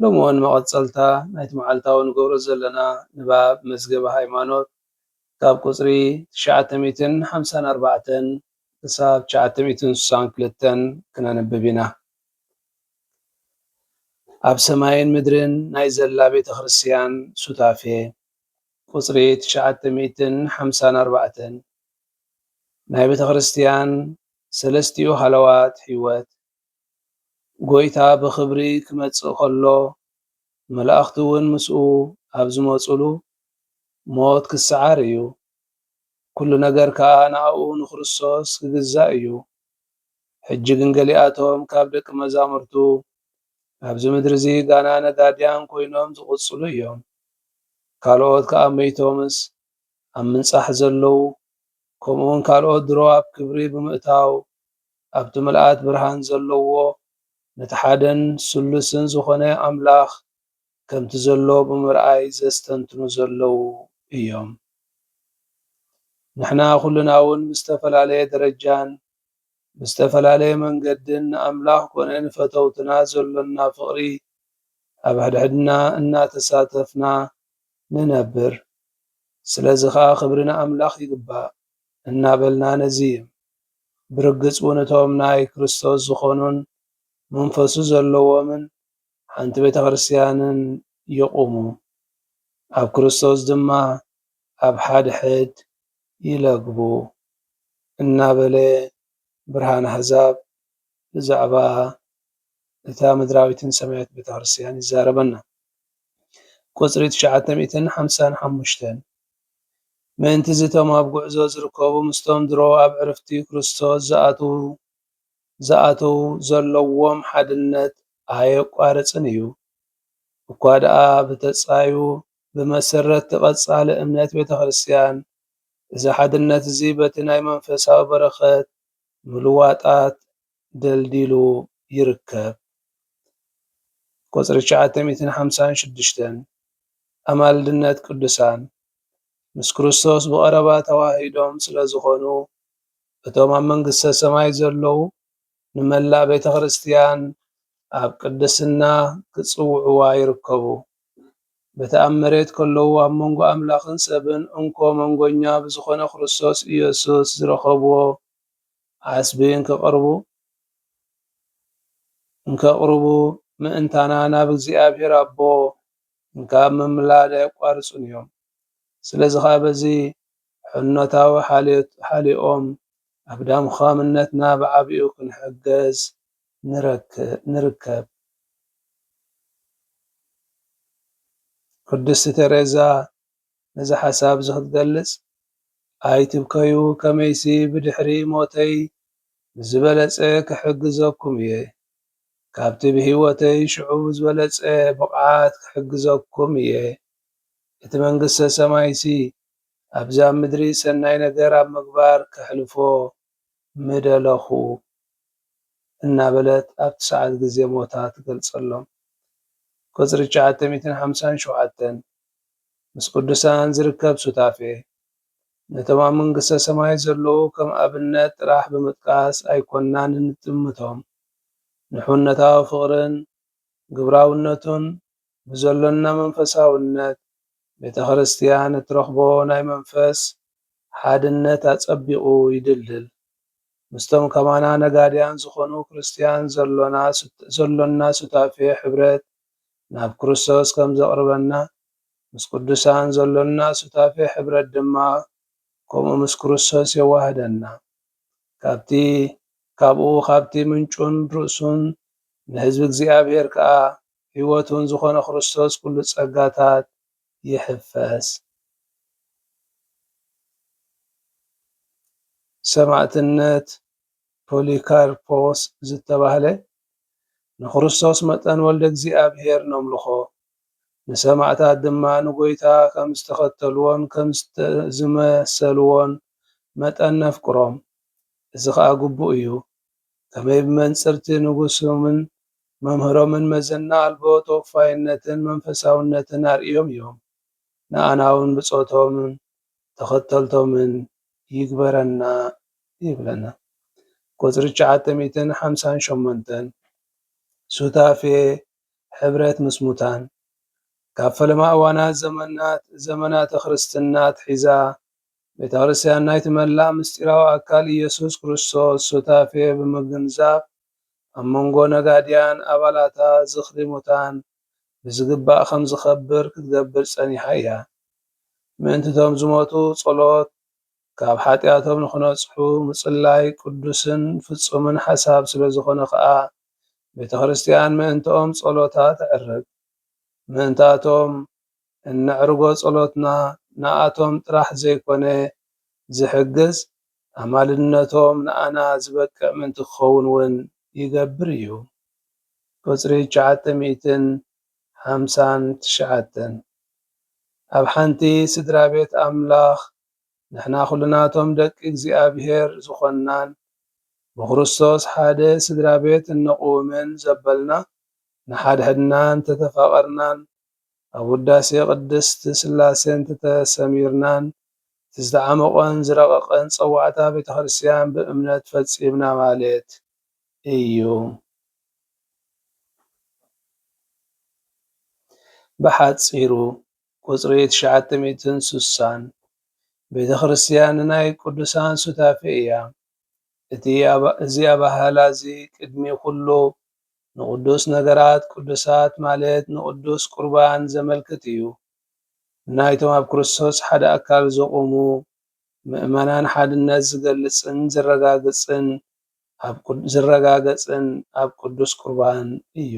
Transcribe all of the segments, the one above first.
ሎሚ እዋን መቐጸልታ ናይቲ መዓልታዊ ንገብሮ ዘለና ንባብ መዝገበ ሃይማኖት ካብ ቁጽሪ ትሽዓተ ሚእትን ሓምሳን ኣርባዕተን ክሳብ ትሽዓተ ሚእትን ስሳን ክልተን ክነንብብ ኢና። ኣብ ሰማይን ምድርን ናይ ዘላ ቤተ ክርስቲያን ሱታፌ፣ ቁጽሪ ትሽዓተ ሚእትን ሓምሳን ኣርባዕተን፣ ናይ ቤተ ክርስቲያን ሰለስቲኡ ሃለዋት ሕይወት፣ ጐይታ ብኽብሪ ኪመጽእ ከሎ፣ መላእኽቲውን ምስኡ ኣብ ዚመጹሉ፣ ሞት ኪሰዓር እዩ። ኵሉ ነገር ከኣ ንኣኡ፣ ንክርስቶስ፣ ኪግዛእ እዩ። ሕጂ ግን ገሊኣቶም ካብ ደቂ መዛሙርቱ፣ ኣብዚ ምድሪዚ ጋና ነጋድያን ኮይኖም ዚቕጽሉ እዮም። ካልኦት ከኣ መይቶምስ ኣብ ምንጻሕ ዘለዉ፣ ከምኡውን ካልኦት ድሮ ኣብ ክብሪ ብምእታው ኣብቲ ምልኣት ብርሃን ዘለዎ ነቲ ሓደን ስሉስን ዝኾነ ኣምላኽ ከምቲ ዘሎ ብምርኣይ ዘስተንትኑ ዘለዉ እዮም። ንሕና ኩልናውን ብዝተፈላለየ ደረጃን ብዝተፈላለየ መንገድን ንኣምላኽ ኮነ ንፈተውትና ዘሎና ፍቕሪ ኣብ ሕድሕድና እናተሳተፍና ንነብር። ስለዚ ኸኣ ክብሪ ንኣምላኽ ይግባእ እናበልና ነዝይም። ብርግጽ እውን እቶም ናይ ክርስቶስ ዝኾኑን መንፈሱ ዘለዎምን ሓንቲ ቤተ ክርስቲያንን ይቑሙ፣ ኣብ ክርስቶስ ድማ ኣብ ሓድሕድ ይለግቡ እናበለ ብርሃን ኣሕዛብ ብዛዕባ እታ ምድራዊትን ሰማያዊት ቤተ ክርስቲያን ይዛረበና። ቁጽሪ ትሽዓተ ሚእትን ሓምሳን ሓሙሽተን። ምእንት'ዚ እቶም ኣብ ጕዕዞ ዝርከቡ ምስቶም ድሮ ኣብ ዕርፍቲ ክርስቶስ ዝኣትዉ ዘለዎም ሓድነት ኣየቋርጽን ኢዩ። እኳ ደኣ ብተጻዩ ብመሰረት'ቲ ቀጻሊ እምነት ቤተክርስትያን፣ እዚ ሓድነት'ዚ በቲ ናይ መንፈሳዊ በረኸት ምልዋጣት ደልዲሉ ይርከብ። ቁጽሪ ትሽዓተ ሚእትን ሓምሳን ሽዱሽተን፣ ኣማልድነት ቅዱሳን ምስ ክርስቶስ ብቐረባ ተዋሃሂዶም ስለ ዝዀኑ፣ እቶም ኣብ መንግስተ ሰማይ ዘለዉ ንመላእ ቤተ ክርስቲያን ኣብ ቅድስና ክጽውዕዋ ይርከቡ። በቲ ኣብ መሬት ከለዉ ኣብ መንጎ ኣምላኽን ሰብን እንኮ መንጎኛ ብዝዀነ ክርስቶስ ኢየሱስ ዝረኸብዎ ዓስቢ እንከቕርቡ እንከቕርቡ ምእንታና ናብ እግዚኣብሔር ኣቦ እንካብ ምምላድ ኣየቋርጹን እዮም። ስለዚ ኸኣ በዚ ሕኖታዊ ሓልዮኦም ኣብ ዳምዃምነትና ብዓቢኡ ክንሕገዝ ንርከብ። ቅድስቲ ተሬዛ ነዚ ሓሳብ እዚ ክትገልጽ፣ ኣይትብከዩ ከመይሲ ብድሕሪ ሞተይ ብዝበለጸ ክሕግዘኩም እየ። ካብቲ ብህይወተይ ሽዑ ብዝበለጸ ብቕዓት ክሕግዘኩም እየ። እቲ መንግስተ ሰማይሲ ኣብዚ ኣብ ምድሪ ሰናይ ነገር ኣብ ምግባር ከሕልፎ ምደለኹ እናበለት ኣብቲ ሰዓት ግዜ ሞታ ትገልጸሎም። ቍጽሪ ትሽዓተ ሚእትን ሓምሳን ሸውዓተን ምስ ቅዱሳን ዝርከብ ሱታፌ፣ ነቶም ኣብ መንግስተ ሰማይ ዘለዉ ከም ኣብነት ጥራሕ ብምጥቃስ ኣይኰንናን እንጥምቶም። ንሕውነታዊ ፍቕርን ግብራውነቱን ብዘሎና መንፈሳውነት ቤተ ክርስቲያን እትረኽቦ ናይ መንፈስ ሓድነት ኣጸቢቑ ይድልድል። ምስቶም ከማና ነጋድያን ዝኾኑ ክርስቲያን ዘሎና ዘሎና ሱታፌ ሕብረት ናብ ክርስቶስ ከም ዘቕርበና ምስ ቅዱሳን ዘሎና ሱታፌ ሕብረት ድማ ከምኡ ምስ ክርስቶስ የዋህደና። ካብቲ ካብኡ ካብቲ ምንጩን ርእሱን ንህዝቢ እግዚኣብሔር ከኣ ሕይወቱን ዝኾነ ክርስቶስ ኩሉ ጸጋታት ይሕፈስ። ሰማእትነት ፖሊካርፖስ ዝተባህለ ንክርስቶስ መጠን ወልደ እግዚኣብሔር ነምልኾ ንሰማእታት ድማ ንጎይታ ከም ዝተኸተልዎን ከም ዝመሰልዎን መጠን ነፍቅሮም እዚ ከኣ ግቡእ እዩ። ከመይ ብመንጽር'ቲ ንጉሶምን መምህሮምን መዘና ኣልቦ ተወፋይነትን መንፈሳውነትን ኣርእዮም እዮም፣ ንኣና'ውን ብጾቶምን ተኸተልቶምን ይግበረና ይብለና። ቁጽሪ ትሽዓተ ሚእትን ሓምሳን ሸሞንተን፣ ሱታፌ፣ ሕብረት ምስ ሙታን፣ ካብ ፈለማ እዋናት ዘመናት ዘመናተ ክርስትና ኣትሒዛ ቤተክርስትያን ናይቲ መላእ ምሥጢራዊ ኣካል ኢየሱስ ክርስቶስ ሱታፌ ብምግንዛብ ኣብ መንጎ ነጋድያን ኣባላታ ዝኽሪ ሙታን ብዝግባእ ከም ዝኸብር ክትገብር ጸኒሓ እያ። ምእንቲ እቶም ዝሞቱ ጸሎት ካብ ኃጢኣቶም ንኽነጽሑ ምጽላይ ቅዱስን ፍጹምን ሓሳብ ስለ ዝኾነ ከኣ ቤተክርስትያን ምእንትኦም ጸሎታ ተዕርግ። ምእንታቶም። እነዕርጎ ጸሎትና ንኣቶም ጥራሕ ዘይኮነ ዝሕግዝ፣ ኣማልድነቶም ንኣና ዝበቅዕ ምእንቲ ክኸውን ውን ይገብር እዩ። ቁጽሪ ትሽዓተ ሚእትን ሓምሳን ትሽዓተን። ኣብ ሓንቲ ስድራቤት ኣምላኽ ንሕና ኩልናቶም ደቂ እግዚኣብሔር ዝኾንናን ብክርስቶስ ሓደ ስድራቤት እነቕውምን ዘበልና ንሓድሕድና እንተተፋቐርናን ኣብ ውዳሴ ቅድስት ሥላሴ እንተተሰሚርናን እቲ ዝተዓመቖን ዝረቐቐን ጸዋዕታ ቤተ ክርስቲያን ብእምነት ፈጺምና ማሌት እዩ። ብሓጺሩ ቁጽሪ ትሽዓተ ሚእትን ሱሳን ቤተ ክርስቲያን ንናይ ቅዱሳን ሱታፌ እያ። እዚ ኣበሃህላ'ዚ ቅድሚ ዅሉ ንቕዱስ ነገራት ቅዱሳት ማለት ንቕዱስ ቍርባን ዘመልክት እዩ። ንናይቶም ኣብ ክርስቶስ ሓደ ኣካል ዝቝሙ ምእመናን ሓድነት ዝገልጽን ዝረጋገጽን ኣብ ቅዱስ ቍርባን እዩ።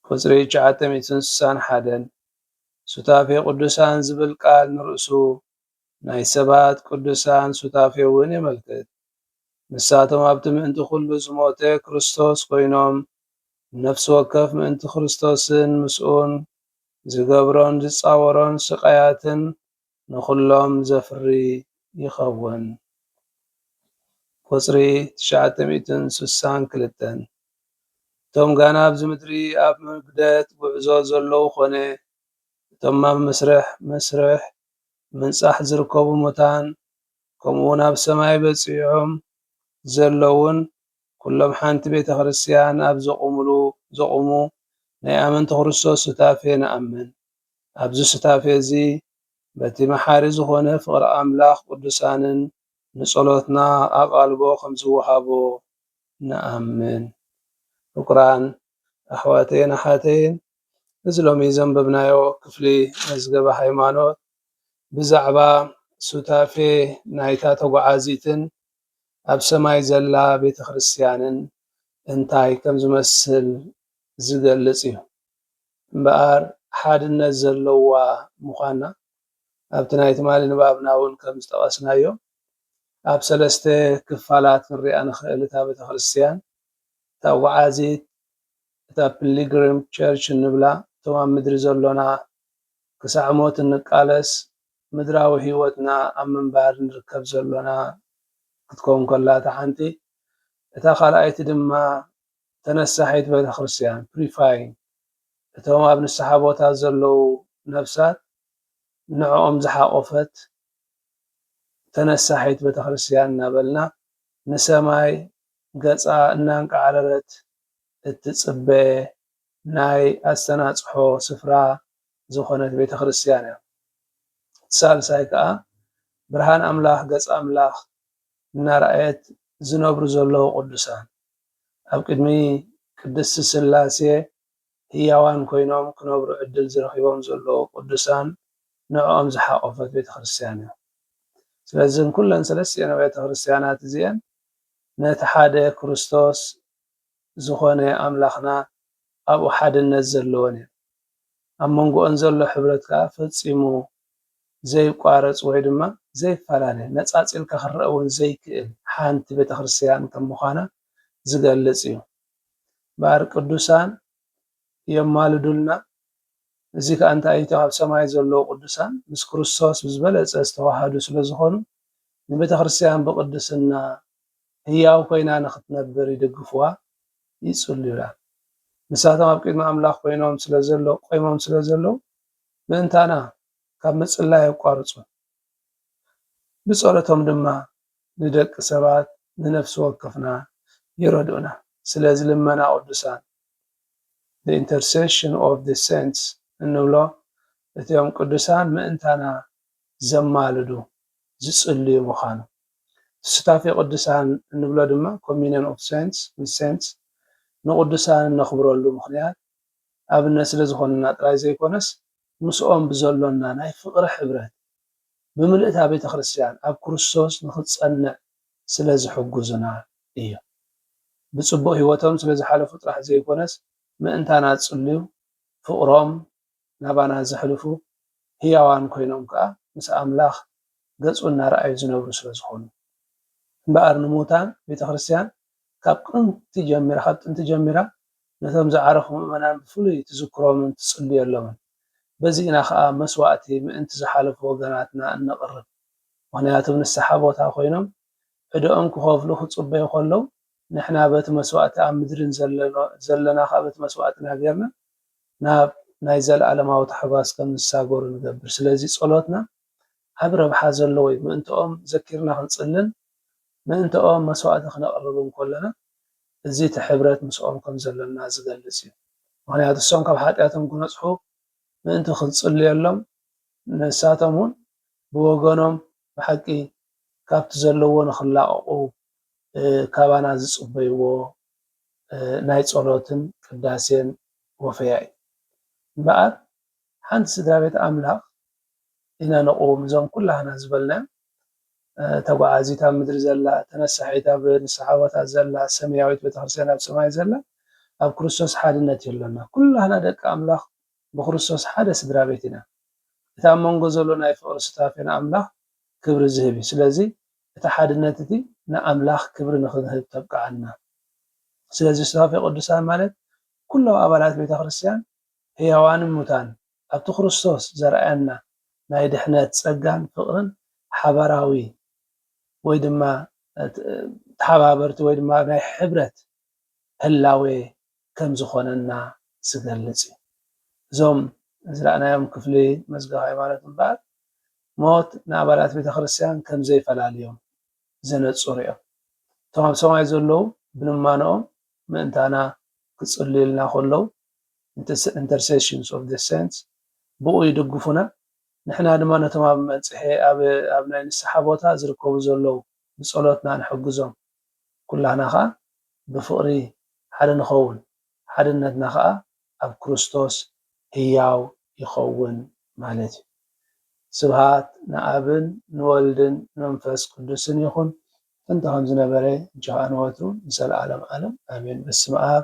ቍጽሪ ትሽዓተ ሚእትን ስሳን ሓደን፣ ሱታፌ ቅዱሳን ዝብል ቃል ንርእሱ ናይ ሰባት ቅዱሳን ሱታፌ'ውን የመልክት። ንሳቶም ኣብቲ ምእንቲ ኩሉ ዝሞተ ክርስቶስ ኮይኖም፣ ንነፍሲ ወከፍ ምእንቲ ክርስቶስን ምስኡን ዝገብሮን ዝጻወሮን ስቓያትን ንኹሎም ዘፍሪ ይኸውን። ቁጽሪ ትሽዓተ ሚእትን ስሳን ክልተን፣ እቶም ጋና ኣብዚ ምድሪ ኣብ መግደት ጉዕዞ ዘለዉ ኮነ እቶም ኣብ መስርሕ መስርሕ ምንጻሕ ዝርከቡ ሙታን ከምኡውን ኣብ ሰማይ በጺሖም ዘለዉን ኩሎም ሓንቲ ቤተ ክርስቲያን ኣብ ዘቑሙሉ ዘቑሙ ናይ ኣመንቲ ክርስቶስ ሱታፌ ንኣምን። ኣብዚ ሱታፌ እዚ በቲ መሓሪ ዝኾነ ፍቕሪ ኣምላኽ ቅዱሳንን ንጸሎትና ኣቓልቦ ከም ዝወሃቦ ንኣምን። ፍቁራን ኣሕዋተይን ኣሓተይን እዚ ሎሚ ዘንበብናዮ ክፍሊ መዝገበ ሃይማኖት ብዛዕባ ሱታፌ ናይታ ተጓዓዚትን ኣብ ሰማይ ዘላ ቤተ ክርስትያንን እንታይ ከም ዝመስል ዝገልጽ እዩ። እምበኣር ሓድነት ዘለዋ ምዃና ኣብቲ ናይ ትማሊ ንባብና እውን ከም ዝጠቐስናዮ ኣብ ሰለስተ ክፋላት ክንሪኣ ንኽእል እታ ቤተ ክርስትያን ተጓዓዚት፣ እታ ፒሊግሪም ቸርች እንብላ እቶም ኣብ ምድሪ ዘሎና ክሳዕ ሞት እንቃለስ ምድራዊ ሕይወትና ኣብ ምንባር ንርከብ ዘሎና ክትከውን ከላ እታ ሓንቲ እታ ካልኣይቲ ድማ ተነሳሒት ቤተክርስትያን፣ Prefying፣ እቶም ኣብ ንስሓ ቦታ ዘለዉ ነፍሳት ንዕኦም ዝሓቆፈት ተነሳሒት ቤተክርስትያን እናበልና ንሰማይ ገጻ እናንቃዕረረት እትጽበ ናይ ኣስተናጽሖ ስፍራ ዝኾነት ቤተ ክርስትያን እያ። እቲ ሳልሳይ ከኣ ብርሃን ኣምላኽ ገጽ ኣምላኽ እናረኣየት ዝነብሩ ዘለዉ ቅዱሳን ኣብ ቅድሚ ቅድስት ሥላሴ ህያዋን ኮይኖም ክነብሩ ዕድል ዝረኺቦም ዘለዉ ቅዱሳን ንዕኦም ዝሓቆፈት ቤተ ክርስትያን እያ። ስለዚ እዘን ኩለን ሰለስቲኤን ኣብያተ ክርስትያናት እዚኤን ነቲ ሓደ ክርስቶስ ዝኾነ ኣምላኽና ኣብኡ ሓድነት ዘለወን እየን። ኣብ መንጎኦን ዘሎ ሕብረት ከኣ ፈጺሙ ዘይቋረጽ ወይ ድማ ዘይፈላለ፣ ነጻጺልካ ክረኣ እውን ዘይክእል ሓንቲ ቤተ ክርስቲያን ከም ምዃና ዝገልጽ እዩ። እምበኣር ቅዱሳን የማልዱልና እዚ ከኣ እንታይ ኢዩ ኣብ ሰማይ ዘለዉ ቅዱሳን ምስ ክርስቶስ ብዝበለጸ ዝተዋሃዱ ስለ ዝኾኑ ንቤተክርስትያን ብቅድስና ህያው ኮይና ንኽትነብር ይድግፍዋ ይጽልዩላ ንሳቶም ኣብ ቅድሚ ኣምላኽ ኮይኖም ስለ ዘለዉ ቆይሞም ስለ ዘለዉ ምእንታና ካብ ምጽላይ ኣየቋርጹን ብጸሎቶም ድማ ንደቂ ሰባት ንነፍሲ ወከፍና ይረድኡና ስለዚ ልመና ቅዱሳን the intercession of the saints እንብሎ እቶም ቅዱሳን ምእንታና ዘማልዱ፣ ዝጽልዩ፣ ምዃኑ። ሱታፌ ቅዱሳን እንብሎ ድማ communion of saints with saints ንቅዱሳን እነኽብረሉ ምኽንያት ኣብነት ስለ ዝኾኑና ጥራይ ዘይኮነስ ምስኦም ብዘሎና ናይ ፍቕሪ ሕብረት ብምልእታ ቤተ ክርስቲያን ኣብ ክርስቶስ ንኽትጸንዕ ስለ ዝሕጉዙና እዩ። ብጽቡቕ ህይወቶም ስለ ዝሓለፉ ጥራሕ ዘይኮነስ ምእንታና ዝጽልዩ፣ ፍቕሮም ናባና ዘሕልፉ፣ ህያዋን ኮይኖም ከኣ ምስ ኣምላኽ ገጹ እናርኣዩ ዝነብሩ ስለ ዝኾኑ። እምበኣር ንምዉታን ቤተክርስትያን ካብ ቅንት ጀሚራ ካብ ጥንቲ ጀሚራ ነቶም ዝዓረፉ ምእመናን ብፍሉይ ትዝክሮምን ትጽልየሎምን። በዚ ኢና ከኣ መስዋእቲ ምእንቲ ዝሓለፉ ወገናትና እነቕርብ። ምኽንያቱም ንስሓ ቦታ ኮይኖም ዕዳኦም ክኸፍሉ ክጽበዩ ከለው ንሕና በቲ መስዋእቲ ኣብ ምድሪ ዘለና ከኣ በቲ መስዋእትና ጌርና ናብ ናይ ዘለኣለማዊ ታሕጓስ ከም ዝሳገሩ ንገብር። ስለዚ ጸሎትና ዓቢ ረብሓ ዘለዎ እዩ። ምእንትኦም ዘኪርና ክንጽልን ምእንትኦም መስዋእቲ ክነቕርብን ከሎና እዚ እቲ ሕብረት ምስኦም ከም ዘሎና ዝገልጽ እዩ። ምኽንያቱ እሶም ካብ ሓጢኣቶም ክነጽሑ ምእንቲ ክንጽልየሎም ንሳቶም እውን ብወገኖም ብሓቂ ካብቲ ዘለዎ ንክላቀቁ ካባና ዝጽበይዎ ናይ ጸሎትን ቅዳሴን ወፈያ እዩ እምበኣር ሓንቲ ስድራቤት ኣምላኽ ኢና ንቁውም እዞም ኩላህና ዝበልናዮም ተጓዓዚት ኣብ ምድሪ ዘላ ተነሳሒት ኣብ ንስሓ ቦታ ዘላ ሰምያዊት ቤተክርስትያን ኣብ ሰማይ ዘላ ኣብ ክርስቶስ ሓድነት እዩ ኣሎና ኩላህና ደቂ ኣምላኽ ብክርስቶስ ሓደ ስድራ ቤት ኢና። እቲ ኣብ መንጎ ዘሎ ናይ ፍቕሪ ሱታፌ ንኣምላኽ ክብሪ ዝህብ እዩ። ስለዚ እቲ ሓድነት እቲ ንኣምላኽ ክብሪ ንኽንህብ ተብቅዓና። ስለዚ ሱታፌ ቅዱሳን ማለት ኩሎም ኣባላት ቤተ ክርስቲያን ሕያዋንን ሙታን ኣብቲ ክርስቶስ ዘርኣየና ናይ ድሕነት ጸጋን ፍቕርን ሓባራዊ ወይ ድማ ተሓባበርቲ ወይ ድማ ናይ ሕብረት ህላዌ ከም ዝኾነና ዝገልጽ እዩ። እዞም ዝረኣናዮም ክፍሊ መዝገብ ሃይማኖት እምበኣር ሞት ንኣባላት ቤተ ክርስቲያን ከም ዘይፈላልዮም ዘነጽሩ እዮም። እቶም ኣብ ሰማይ ዘለዉ ብልማኖኦም ምእንታና ክጽልዩልና ከለዉ፣ Intercessions of the Saints፣ ብኡ ይድግፉና፣ ንሕና ድማ ነቶም ኣብ መንጽሔ ኣብ ናይ ንስሓ ቦታ ዝርከቡ ዘለዉ ብጸሎትና ንሕግዞም። ኩላህና ከኣ ብፍቕሪ ሓደ ንኸውን ሓድነትና ከኣ ኣብ ክርስቶስ ህያው ይኸውን ማለት እዩ። ስብሃት ንኣብን ንወልድን ንመንፈስ ቅዱስን ይኹን ጥንቲ ከምዝነበረ እንቺ ከኣ ንወትሩ ንዘልኣለም ኣለም ኣሜን በስመኣብ